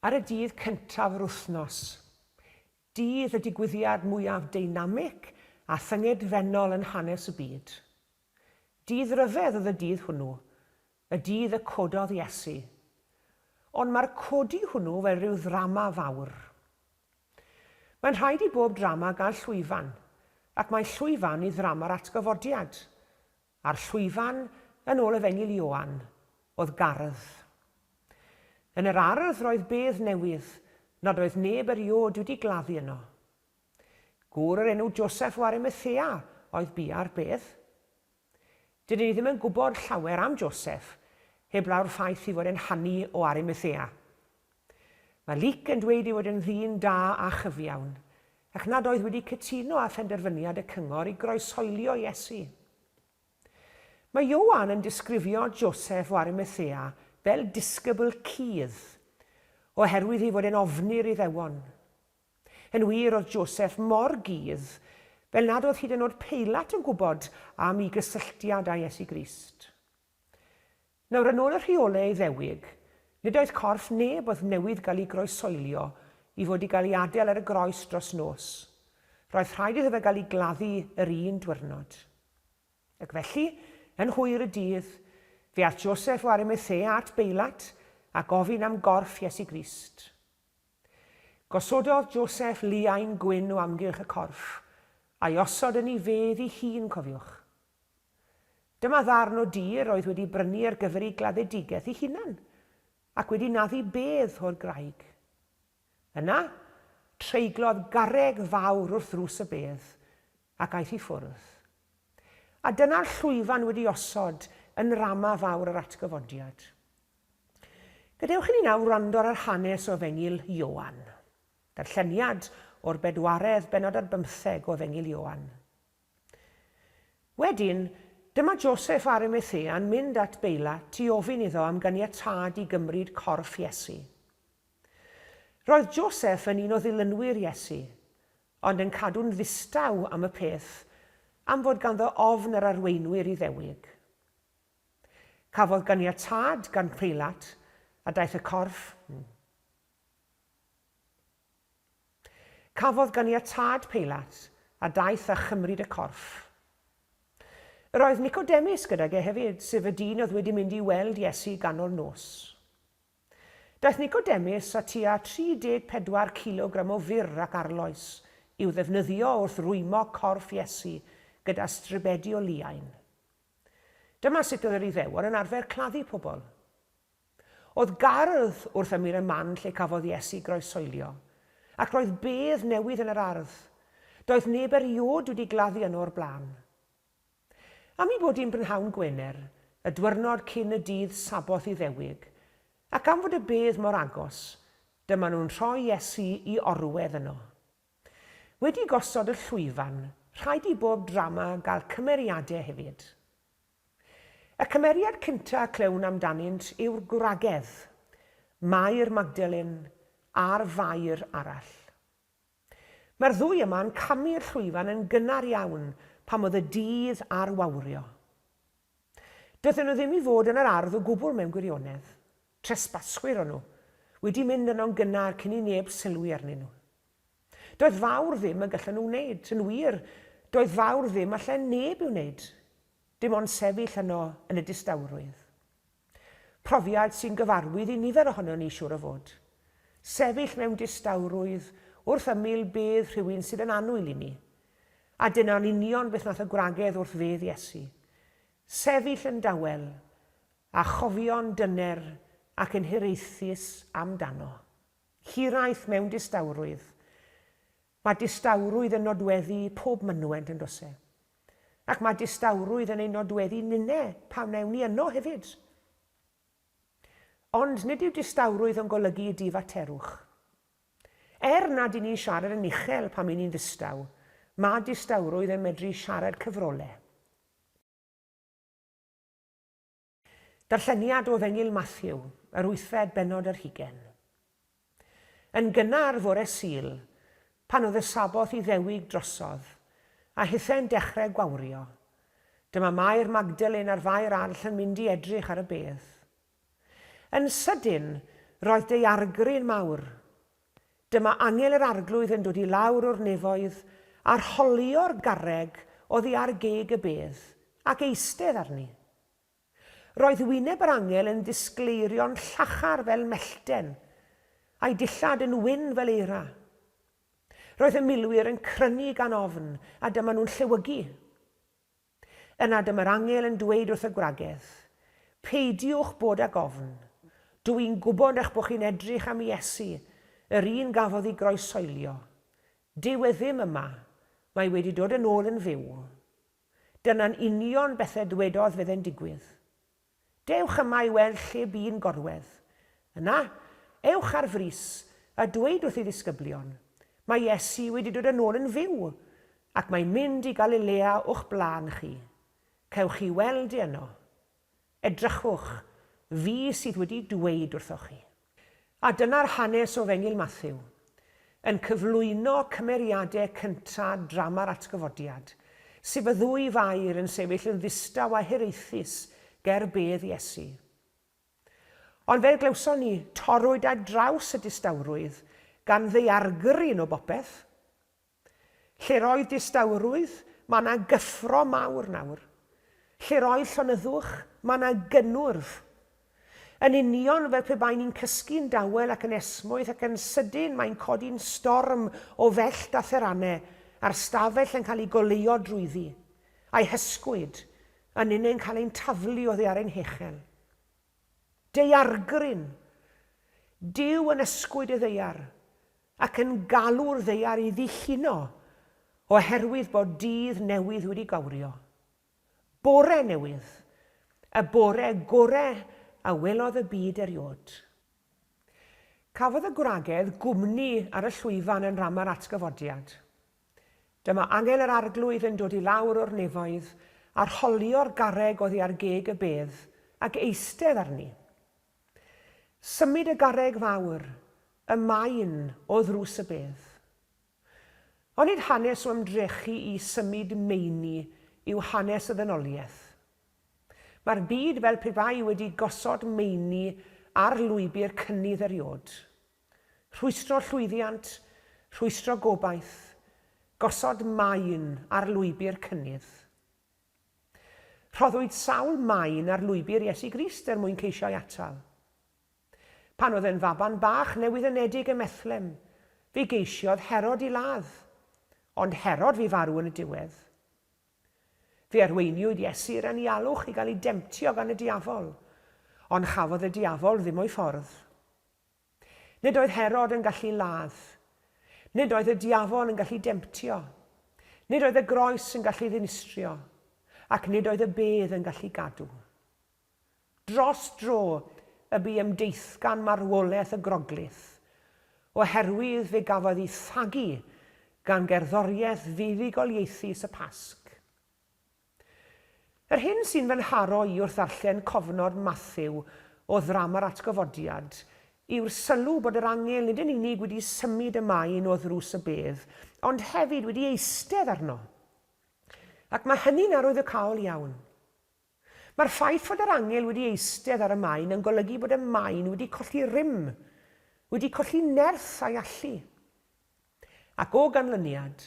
Ar y dydd cyntaf yr wythnos, dydd y digwyddiad mwyaf deinamig a thyngedfennol yn hanes y byd. Dydd ryfedd oedd y dydd hwnnw, Y dydd y cododd Iesu. Ond mae'r codi hwnnw fel rhyw ddrama fawr. Mae'n rhaid i bob drama gael llwyfan, ac mae llwyfan i ddrama'r Atgyfodiad, a'r llwyfan, yn ôl Efengyl Ioan, oedd gardd. Yn yr ardd roedd bedd newydd, nad oedd neb eriôd wedi gladdu yno. Gŵr o'r enw Joseph o Arimethea oedd bia'r bedd. Dydyn ni ddim yn gwybod llawer am Joseph, heblaw'r ffaith ei fod e'n hanu o Arimathea. Mae Luc yn dweud ei fod yn ddyn da a chyfiawn, ac nad oedd wedi cytuno â phenderfyniad y cyngor i groeshoelio Iesu. Mae Ioan yn disgrifio Joseph o Arimathea fel disgybl cudd, oherwydd ei fod e'n ofni'r Iddewon. Yn wir, oedd Joseph mor gudd, fel nad oedd hyd yn oed Peilat yn gwybod am ei gysylltiad â Iesu Grist. Nawr, yn ôl y rheolau Iddewig, nid oedd corff neb oedd newydd gael ei groesoelio i fod i gael ei adael ar y groes dros nos. Roedd rhaid iddo fe gael ei gladdu yr un diwrnod. Ac felly, yn hwyr y dydd, fe aeth Joseph o Arimathea at Beilat a gofyn am gorff Iesu Grist. Gosododd Joseph liain gwyn o amgylch y corff, a'i osod yn ei fedd ei hun, cofiwch. Dyma ddarn o dir oedd wedi brynu ar gyfer ei gladdedigaeth ei hunan, ac wedi naddu bedd o'r graig. Yna, treiglodd garreg fawr wrth ddrws y bedd, ac aeth i ffwrdd. A dyna'r llwyfan wedi osod yn nrama fawr yr Atgyfodiad. Gadewch i ni nawr wrando ar yr hanes o Efengyl Ioan. Darlleniad o'r bedwaredd bennod ar bymtheg o Efengyl Ioan. Wedyn, dyma Joseff Arimathea'n mynd at Beilat i ofyn iddo am ganiatâd i gymryd corff Iesu. Roedd Joseff yn un o ddilynwyr Iesu, ond yn cadw'n ddistaw am y peth am fod ganddo ofn yr arweinwyr Iddewig. Cafodd ganiatâd gan Peilat, a daeth y corff hmm. Cafodd ganiatâd Peilat, a daeth a chymryd y corff. Yr oedd Nicodemus gydag e hefyd, sef y dyn oedd wedi mynd i weld Iesu ganol nos. Daeth Nicodemus â tua 34 cilogram o fur ac arloes i'w ddefnyddio wrth rwymo corff Iesu gyda stribedi o liain. Dyma sut oedd yr Iddewon yn arfer claddu pobl. Oedd gardd wrth ymyl y man lle cafodd Iesu groesoelio, ac roedd bedd newydd yn yr ardd. Doedd neb eriôd wedi gladdu yno o'r blaen. Am ei bod hi'n brynhawn Gwener, y dwyrnod cyn y dydd Saboth Iddewig, ac am fod y bedd mor agos, dyma nhw'n rhoi Iesu i orwedd yno. Wedi gosod y llwyfan, rhaid i bob drama gael cymeriadau hefyd. Y cymeriad cynta' y clywn amdanynt yw'r gwragedd, Mair Magdalene, a'r Fair arall. Mae'r ddwy yma yn camu'r llwyfan yn gynnar iawn pan oedd y dydd ar wawrio. Doedden nhw ddim i fod yn yr ardd o gwbl mewn gwirionedd. Tresbaswyr o'n nhw, wedi mynd yno'n gynnar cyn i neb sylwi arnyn nhw. Doedd fawr ddim y gallen nhw wneud, yn wir, doedd fawr ddim allen neb i'w wneud, dim ond sefyll yno yn y distawrwydd. Profiad sy'n gyfarwydd i nifer ohonon ni, siŵr o fod. Sefyll mewn distawrwydd wrth ymyl bedd rhywun sydd yn annwyl i ni. A dyna'n union beth nath y gwragedd wrth fedd Iesu. Sefyll yn dawel, a chofio'n dyner ac yn hiraethus amdano. Hiraeth mewn distawrwydd. Mae distawrwydd yn nodweddu pob mynwent yn does e? Ac mae distawrwydd yn ein nodweddu ninne pan wnewn ni yno hefyd. Ond nid yw distawrwydd yn golygu y difaterwch. Er nad y'n ni'n siarad yn uchel pan y'n ni'n ddistaw, mae distawrwydd yn medru siarad cyfrole. Darlleniad o Ddengil Mathew, yr wythfed bennod yr hugen. Yn gynnar fore Sul, pan oedd y Sabboth Iddewig drosodd, a hithau'n dechrau gwawrio, dyma Mair Magdalen a'r Fair arll yn mynd i edrych ar y bedd. Yn sydyn, roedd daeargry'n mawr, Dyma angel yr Arglwydd yn dod i lawr o'r nefoedd, a'r holior garreg oddi ar geg y bedd, ac eistedd arni. Roedd wyneb yr angel yn ddisgleirio'n llachar fel mellten, a'i dillad yn wyn fel eira. Roedd y milwyr yn crynu gan ofn, a dyma nhw'n llewygu. Yna dyma'r angel yn dweud wrth y gwragedd, Peidiwch bod ag ofn. Dw i'n gwybod eich bod chi'n edrych am Iesu, yr un gafodd ei groesoelio. Dyw e ddim yma, mae wedi dod yn ôl yn fyw. Dyna'n union beth a ddwedodd fydde'n digwydd. Dewch yma i weld lle bu'n gorwedd. Yna, ewch ar frys, a dweud wrth ei ddisgyblion, Mae Iesu wedi dod yn ôl yn fyw, ac mae'n mynd i Galilea o'ch blaen chi. Cewch chi weld e yno. Edrychwch, fi sydd wedi dweud wrthoch chi. A dyna'r hanes o Fengil Matthew, yn cyflwyno cymeriade cynta drama'r Atgyfodiad, sef y ddwy fair yn sefyll yn ddistaw a hiraethus ger bedd Iesu. Ond fel glywson ni, torrwyd ar draws y distawrwydd gan ddaeargryn o bopeth. Lle'r oedd distawrwydd, mae 'na gyffro mawr nawr. Lle'r oedd llonyddwch, mae 'na gynnwrf. Yn union fel pe baen ni'n cysgu'n dawel ac yn esmwyth ac yn sydyn mae'n codi'n storm o fellt a theranau, a'r stafell yn cael ei goleuo drwyddi, a'i hysgwyd, a ninnau'n cael ein taflu oddi ar ein hechel. Daeargryn! Duw yn ysgwyd y ddaear. ac yn galw'r ddaear i ddilluno oherwydd bod dydd newydd wedi gawrio. Bore newydd, y bore gore a welodd y byd eriod. Cafodd y gwragedd gwmni ar y llwyfan yn Rama'r Atgyfodiad. Dyma Angel yr Arglwydd yn dod i lawr o'r nefoedd, arholio'r garreg oddi ar geg y bedd, ac eistedd arni. Symud y garreg fawr, y maen o ddrws y bedd. Onid hanes o ymdrechu i symud meini yw hanes y ddynoliaeth? Mae'r byd fel pe bai wedi gosod meini ar lwybr cynnydd eriod. Rhwystro llwyddiant, rhwystro gobaith, gosod maen ar lwybr cynnydd. Rhoddwyd sawl maen ar lwybr Iesu Grist er mwyn ceisio ei atal. Pan oedd e'n faban bach newyddenedig ym Methlehem, fe geisiodd Herod i ladd, ond Herod fu farw yn y diwedd. Fe arweiniwyd Iesu i'r anialwch i gael ei demtio gan y diafol, ond chafodd y diafol ddim o'i ffordd. Nid oedd Herod yn gallu ladd. Nid oedd y diafol yn gallu demtio. Nid oedd y groes yn gallu ddinistrio. Ac nid oedd y bedd yn gallu gadw. Dros dro y bu ymdeithgan marwolaeth y Groglith, oherwydd fe gafodd ei thagu gan gerddoriaeth fuddugoliaethus y Pasg. Yr hyn sy'n fy nharo i wrth ddarllen cofnod Mathew o Ddrama'r Atgyfodiad yw'r sylw bod yr angel nid yn unig wedi symud y maen o ddrws y bedd, ond hefyd wedi eistedd arno. Ac mae hynny'n arwyddocaol iawn. Mae'r ffaith fod yr angel wedi eistedd ar y maen yn golygu bod y maen wedi colli rym, wedi colli nerth a'i allu. Ac o ganlyniad,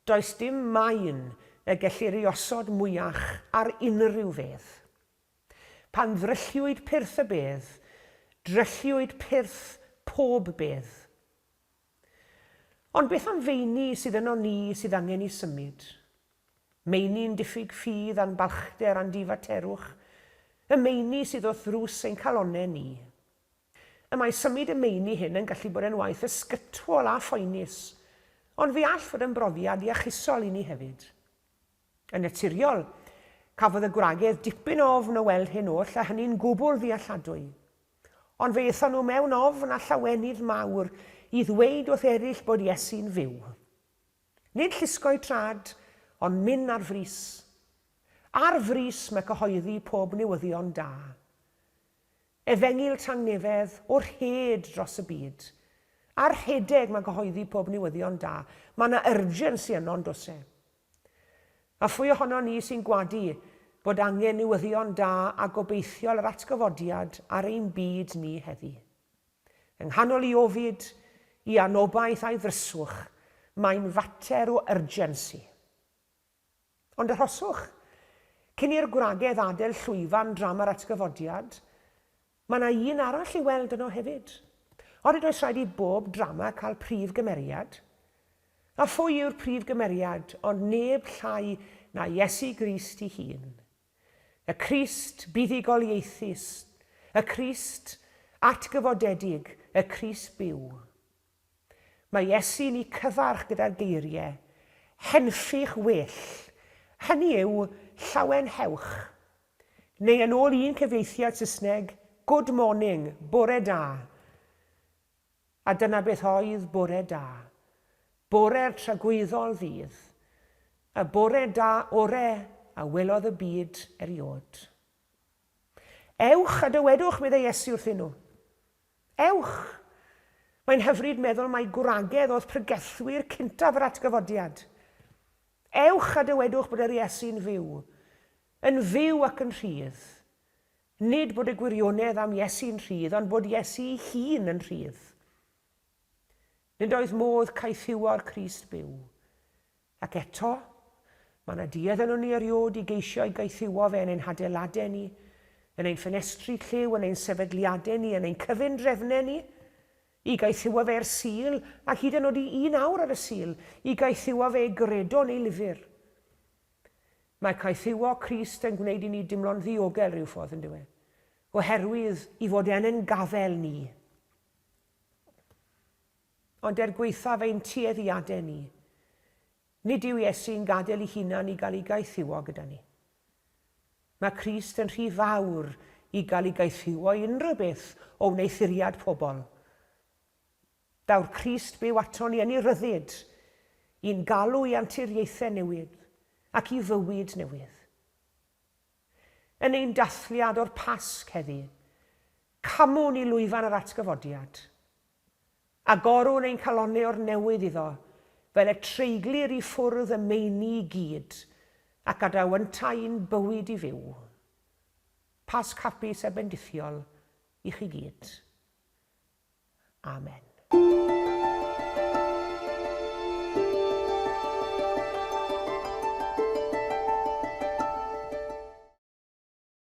does dim maen y gellir ei osod mwyach ar unrhyw fedd. Pan ddrylliwyd pyrth y bedd, drylliwyd pyrth pob bedd. Ond beth am feini sydd yno ni sydd angen i symud? Meini'n diffyg ffydd a'n balchder a'n difaterwch, y meini sydd wrth ddrws ein calonnau ni. Y mae symud y meini hyn yn gallu bod yn waith ysgytwol a phoenus, ond fe all fod yn brofiad iachusol i ni hefyd. Yn naturiol, cafodd y gwragedd dipyn o ofn o weld hyn oll a hynny'n gwbl ddealladwy. Ond fe aethon nhw mewn ofn a llawenydd mawr i ddweud wrth erill bod Iesu'n fyw. Nid llusgo'u trad, ond myn' ar frys. Ar frys mae cyhoeddi pob newyddion da. Efengyl tangnefedd o rhed dros y byd. A rhedeg ma gyhoeddi pob newyddion da. Ma na urgency yno yndos e? A phwy ohonon ni sy'n gwadu bod angen newyddion da a gobeithiol yr atgyfodiad ar ein byd ni heddi? Yng nghanol i ofid, i anobaith a'i ddryswch, mae'n fater o urgency. Ond arhoswch, cyn i'r gwragedd adael llwyfan drama'r atgyfodiad, mae yna un arall i'w weld yno hefyd. Onid oes rhaid i bob drama cael prif gymeriad? A phwy yw'r prif gymeriad ond neb llai na Iesu Grist ei hun. Y Crist buddugoliaethus, y Crist atgyfodedig, y Crist byw. Mae Iesu'n eu cyfarch gyda'r geirie, Henffych well, hynny yw, llawen hewch. Neu yn ôl un cyfieithiad Saesneg, Good morning, bore da. A dyna beth oedd bore da. Bore'r tragwyddol ddydd. Y bore da ore a welodd y byd eriod. Ewch a dywedwch, meddai Iesu wrthyn nhw, Ewch! Mae'n hyfryd meddwl mai gwragedd oedd pregethwyr cyntaf yr Atgyfodiad. Ewch a dywedwch bod yr Iesu'n fyw, yn fyw ac yn rhydd. Nid bod y gwirionedd am Iesu'n rhydd, ond bod Iesu'i hun yn rhydd. Nid oes modd caethiwo'r Crist byw. Ac eto, mae yna duedd ynon ni eriod i geisio ei gaethiwo fe yn ein hadeiladau ni, yn ein ffenestri lliw, yn ein sefydliadau ni, yn ein cyfundrefnau ni, i gaethiwo fe i'r Sul, ac hyd yn oed i un awr ar y Sul, i gaethiwo fe i gredo yn ei lyfr. Mae caethiwo Crist yn gwneud i ni dimlo'n ddiogel rhyw ffordd, yn dyw e? Oherwydd i fod yn ein gafael ni. Ond er gwaethaf ein tueddiadau ni, nid yw Iesu'n gadael ei hunan i gael ei gaethiwo gyda ni. Mae Crist yn rhy fawr i gael ei gaethiwo i unrhyw beth o wneuthuriad pobl. Daw'r Crist byw aton ni yn ei ryddid, i'n galw i anturiaethau newydd ac i fywyd newydd. Yn ein dathliad o'r Pasg heddi, Camwn i lwyfan yr atgyfodiad. Agorwn ein calonnau o'r newydd iddo, fel y treiglir i ffwrdd y meini i gyd, ac gadaw yntau i'n bywyd i fyw. Pasg hapus a bendithiol i chi gyd. Amen.